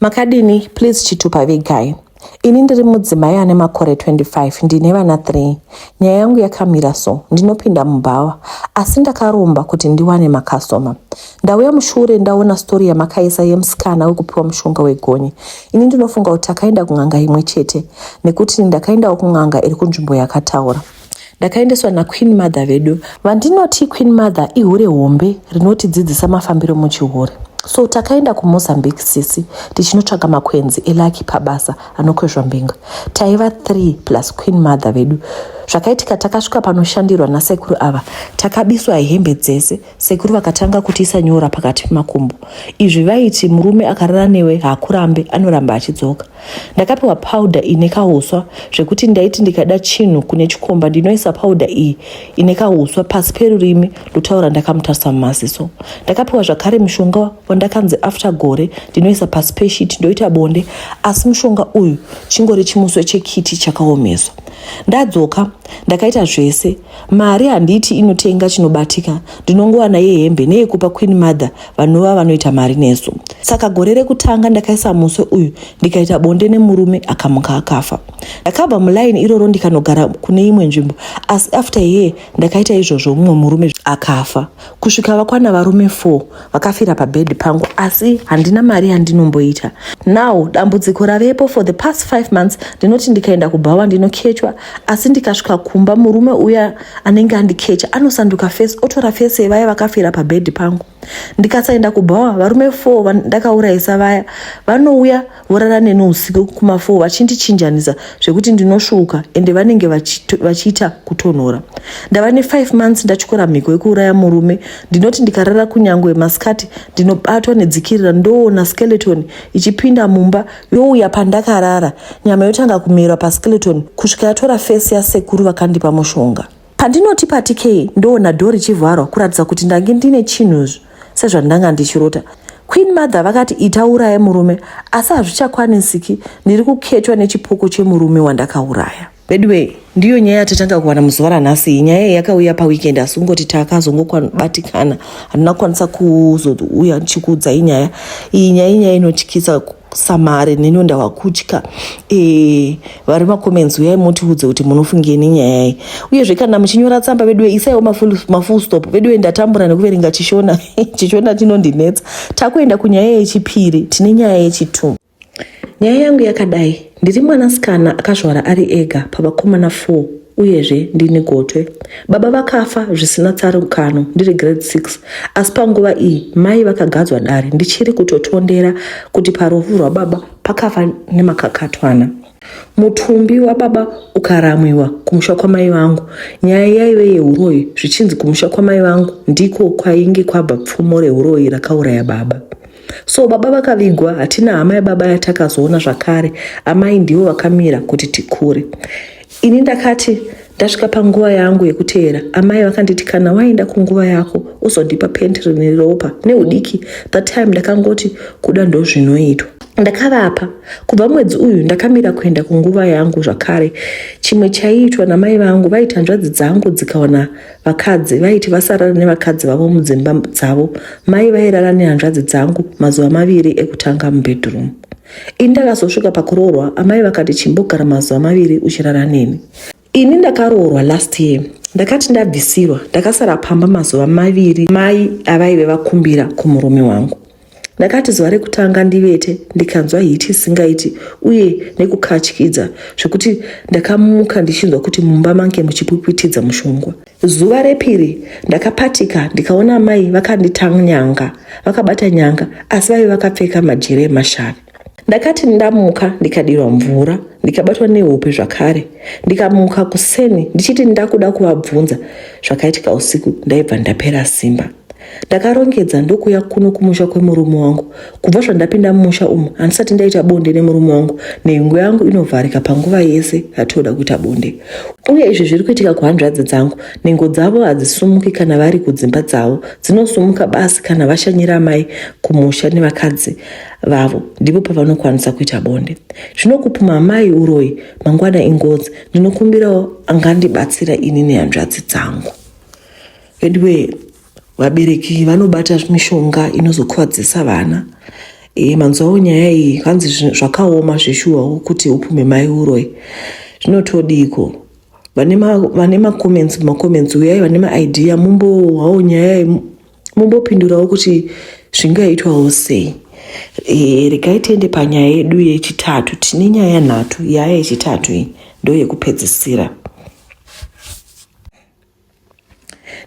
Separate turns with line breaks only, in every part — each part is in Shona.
Makadini please chitupa vegai. Ini ndiri mudzimai ane makore 25 ndine vana 3. Nyaya yangu yakamira so ndinopinda mubhawa asi ndakaromba kuti ndiwane makasoma. Ndauya mushure ndaona story yamakaisa yemusikana wekupiwa mushonga wegonye. Ini ndinofunga kuti akaenda kun'anga imwe chete nekuti ndakaendawo kun'anga iri kunzvimbo yakataura. ndakaendeswa naqueen mother vedu vandinoti queen mother ihure hombe rinotidzidzisa mafambiro muchihure so takaenda kumozambique sisi tichinotsvaga makwenzi elaki pabasa anokwezva mbinga taiva 3 plus queen mother vedu zvakaitika takasvika panoshandirwa nasekuru ava takabiswa hembe dzese sekuru vakatanga kutiisa nyora pakati pemakumbo izvi vaiti murume akarara newe haakurambe anoramba achidzoka Ndakapiwa powder ine kahuswa zvekuti ndaiti ndikada chinhu kune chikomba ndinoisa powder iyi ine kahuswa pasi perurimi ndotaura ndakamutarisa mumaziso. Ndakapiwa zvakare mushonga wandakanzi after gore ndinoisa pasi peshiti ndoita bonde asi mushonga uyu chingori chimuswe chekiti chakaomeswa. Ndadzoka ndakaita zvese mari handiiti inotenga chinobatika ndinongowana yehembe neyekupa queen mother vanova vanoita mari nesu saka gore rekutanga ndakaisa muswe uyu ndikaita bonde nemurume akamuka akafa ndakabva mulaini iroro ndikanogara kune imwe nzvimbo asi after yee ndakaita izvozvo mumwe murume akafa kusvika vakwana varume 4 vakafira pabhedhi pangu asi handina mari yandinomboita now dambudziko ravepo for the past 5 months ndinoti ndikaenda kubhawa ndinokechwa asi ndikasvika kumba murume uya anenge andikecha anosanduka fesi otora fesi yevaya vakafira pabhedhi pangu ndikasaenda kubhawa varume fo vandakaurayisa vaya vanouya vorara neni usiku kumafo vachindichinjanisa zvekuti ndinosvuuka ende vanenge vachiita kutonhora ndava ne5 months ndatyora mhiko yekuuraya murume ndinoti ndikarara kunyange masikati ndinobatwa nedzikirira ndoona skeleton ichipinda mumba youya pandakarara nyama yotanga kumerwa paskeleton kusvika yatora fesi yasekuru vakandipa mushonga pandinoti pati kei ndoona dho richivharwa kuratidza kuti ndange ndine chinhuzvo sezvandanga ndichirota queen mother vakati itauraye murume asi hazvichakwanisiki ndiri kuketwa nechipoko chemurume wandakauraya Veduwee, ndiyo nyaya yatatanga kuwana muzuva ranhasi iyi. Nyaya iyi yakauya paweekend asi kungoti takazongobatikana, handina kukwanisa kuzouya ndichikuudzai nyaya iyi. Nyaya inyaya inotyisa samare neniwo ndava kutya e, vari macomments uyai mutiudze kuti munofungei nenyaya iyi uyezve kana muchinyora tsamba veduwe isaiwo mafull stop veduwe ndatambura nekuverenga chishona chishona chinondinetsa takuenda kunyaya yechipiri tine nyaya yechitu Nyaya yangu yakadai, ndiri mwanasikana akazvara ari ega pavakomana 4 uyezve ndini gotwe. Baba vakafa zvisina tsarukano ndiri grade 6 asi panguva iyi mai vakagadzwa dare ndichiri kutotondera kuti parufu rwababa pakafa nemakakatwana. Mutumbi wababa ukaramwiwa kumusha kwamai vangu. Nyaya yaive yeuroyi zvichinzi kumusha kwamai vangu ndiko kwainge kwabva pfumo reuroyi rakauraya baba. so baba vakavigwa hatina hama yababa yatakazoona zvakare amai ndivo vakamira kuti tikure ini ndakati ndasvika panguva yangu yekuteera amai vakanditi kana waenda kunguva yako uzondipa penti rine ropa neudiki that time ndakangoti kuda ndozvinoitwa ndakavapa kubva mwedzi uyu ndakamira kuenda kunguva yangu zvakare chimwe chaiitwa namai vangu vaiti hanzvadzi dzangu dzikaona vakadzi vaiti vasarara nevakadzi vavo mudzimba dzavo mai vairara nehanzvadzi dzangu mazuva maviri ekutanga mubedroom ini ndakazosvika pakuroorwa amai vakati chimbogara mazuva maviri uchirara neni ini ndakaroorwa last year ndakati ndabvisirwa ndakasara pamba mazuva maviri mai avaive vakumbira kumurume wangu ndakati zuva rekutanga ndivete ndikanzwa hiti isingaiti uye nekukatyidza zvekuti ndakamuka ndichinzwa kuti mumba mange muchipwipwitidza mushongwa zuva repiri ndakapatika ndikaona mai vakanditanyanga vakabata nyanga asi vaive vakapfeka majere emashavi Ndakati ndamuka ndikadirwa mvura ndikabatwa nehope zvakare ndikamuka kuseni ndichiti ndakuda kuvabvunza zvakaitika usiku ndaibva ndapera simba ndakarongedza ndokuya kuno kumusha kwemurume wangu kubva zvandapinda mumusha umu handisati ndaita bonde nemurume wangu nhengo yangu inovharika panguva yese yatooda kuita bonde uye izvi zviri kuitika kuhanzvadzi dzangu nhengo dzavo hadzisumuki kana vari kudzimba dzavo dzinosumuka basi kana vashanyira mai kumusha nevakadzi vavo ndipo pavanokwanisa kuita bonde zvinokupuma amai uroyi mangwana ingozi ndinokumbirawo angandibatsira ini nehanzvadzi dzangu veduwee vabereki vanobata mishonga inozokuvadzisa vana e, manzwawo nyaya iyi hanzi zvakaoma zveshuwawo kuti upume mai uroyi zvinotodiiko vane macomments macomments uyai vane maidea mumbowawo nyaya mumbopindurawo kuti zvingaitwawo sei e, regai tiende panyaya yedu yechitatu tine nyaya nhatu yaya yechitatu iyi ndo yekupedzisira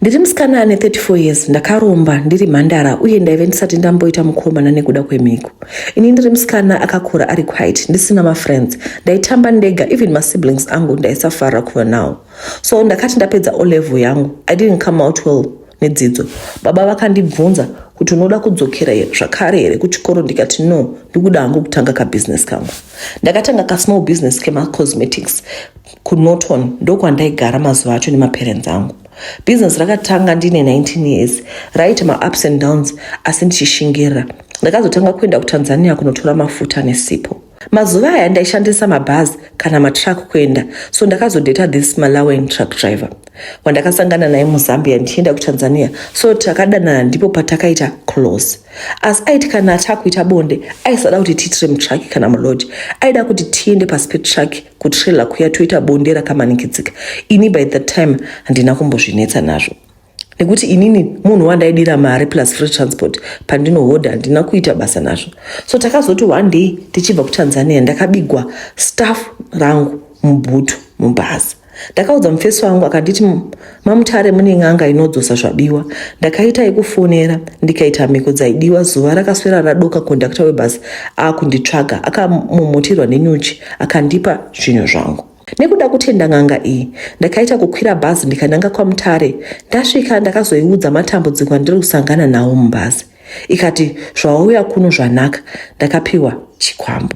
ndiri musikana ane 34 years ndakaromba ndiri mhandara uye ndaive ndisati ndamboita mukomana nekuda kwemhiko ini ndiri musikana akakura ari quite ndisina mafriends ndaitamba ndega even masiblings angu ndaisafarira kuva nawo so ndakati ndapedza olevel yangu i didn't come out well nedzidzo. Baba vakandibvunza kuti unoda kudzokera here zvakare here kuchikoro ndikati no ndikuda hangu kutanga kabusiness kangu. Ndakatanga kasmall business kemacosmetics kunorton ndokwandaigara mazuva acho nemaparents angu. Business rakatanga ndine 19 years raita maups and downs asi ndichishingirira. Ndakazotanga kuenda kutanzania kunotora mafuta nesipo. Mazuva aya ndaishandisa mabhazi kana matruck kuenda so ndakazodeta this Malawian truck driver wandakasangana naye muZambia ndichienda kuTanzania so takadanana ndipo patakaita close asi aiti kana takuita bonde aisada kuti tiitire mutruck kana mulodge aida kuti tiende pasi petruck kutrailer kuya toita bonde rakamanikidzika ini by that time handina kumbozvinetsa nazvo nekuti inini munhu wandaidira mari plus free transport pandinohodha handina kuita basa nazvo so takazoti one day tichibva kutanzania ndakabigwa staff rangu mubhutu mubhazi ndakaudza mufesi wangu akanditi mamutare mune n'anga inodzosa zvabiwa ndakaita yekufonera ndikaita mhiko dzaidiwa zuva rakaswera radoka kondakta webhasi akunditsvaga akamomotirwa nenyuchi akandipa zvinhu zvangu Nekuda kutenda n'anga iyi, ndakaita kukwira bhazi ndikananga kwaMutare. Ndasvika ndakazoiudza matambudziko andiri kusangana nawo mubhazi. Ikati, zvawauya kuno zvanaka, ndakapiwa chikwambo.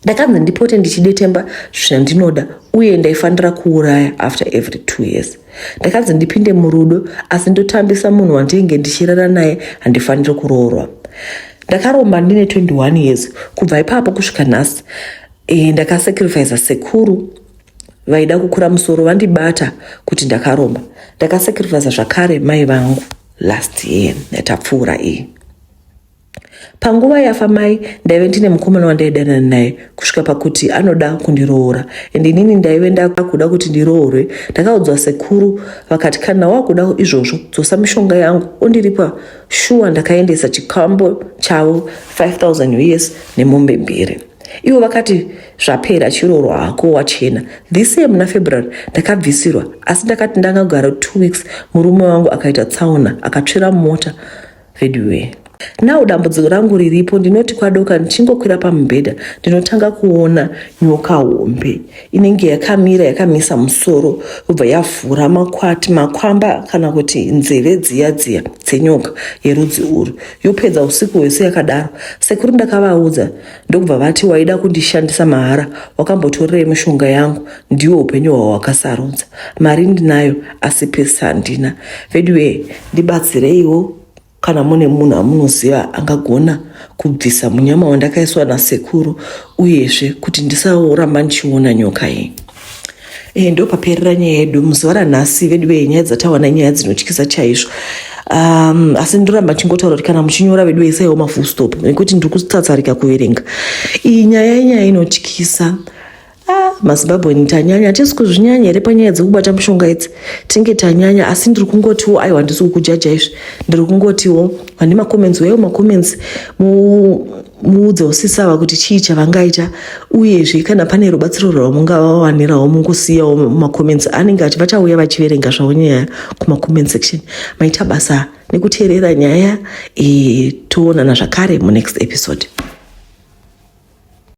Ndakanzi ndipote ndichidetemba zvandinoda uye ndaifanira kuuraya after every two years. Ndakanzi ndipinde murudo asi ndotambisa munhu wandinge ndichirara naye handifaniri kuroorwa. Ndakaromba ndine 21 years kubva ipapo kusvika nhasi E, ndakasacrifice sekuru vaida kukura musoro vandibata kuti ndakaromba ndakasacrifice zvakare mai vangu last year yatapfuura iyi panguva yafa mai ndaive ndine mukomana wandaidanana naye kusvika pakuti anoda kundiroora and inini ndaive ndakuda kuti ndiroorwe ndakaudzwa sekuru vakati kana wakuda izvozvo dzosa mishonga yangu ondiripa shuwa ndakaendesa chikambo chavo 5000 us nemombe mbiri ivo vakati zvapera chiroro hako wachena this year muna february ndakabvisirwa asi ndakati ndangagara two weeks murume wangu akaita tsaona akatsvira mota veduwee now dambudziko rangu riripo ndinoti kwadoka ndichingokwira pamubhedha ndinotanga kuona nyoka hombe inenge yakamira yakamisa musoro yobva yavhura makwati makwamba kana kuti nzeve dziya dziya dzenyoka yerudzi urwu yopedza usiku hwese yakadaro sekuru ndakavaudza ndokubva vati waida kundishandisa mahara wakambotorerei mushonga yangu ndiwo upenyu hwawakasarudza mari ndinayo asi pesi handina veduwee ndibatsireiwo kana mune munhu amunoziva angagona kubvisa munyama wandakaiswa nasekuru uyezve kuti ndisaoramba ndichiona nyoka iyi Eh, ndopaperera nyaya yedu muzuva ranhasi vedu vee nyaya dzatawana nyaya dzinotyisa chaizvo um, asi ndoramba chingotaura kuti kana muchinyora vedu veisaiwo mafull stop nekuti ndiri kutsatsarika kuverenga iyi nyaya inyaya inotyisa ah, mazimbabweni tanyanya hatisi kuzvinyanya here panyaya dzekubata mushonga idzi tinge tanyanya asi ndiri kungotiwo aiwa handisi kukujaja izvi ndiri kungotiwo vane macomments weyo macomments mu muudze usisava kuti chii chavangaita uyezve kana pane rubatsiro rwamungavawanirawo mungusiyawo mumacomments anenge achi vachauya vachiverenga zvavo nyaya kumacomment section maita basa nekuteerera nyaya e, toonana zvakare munext episode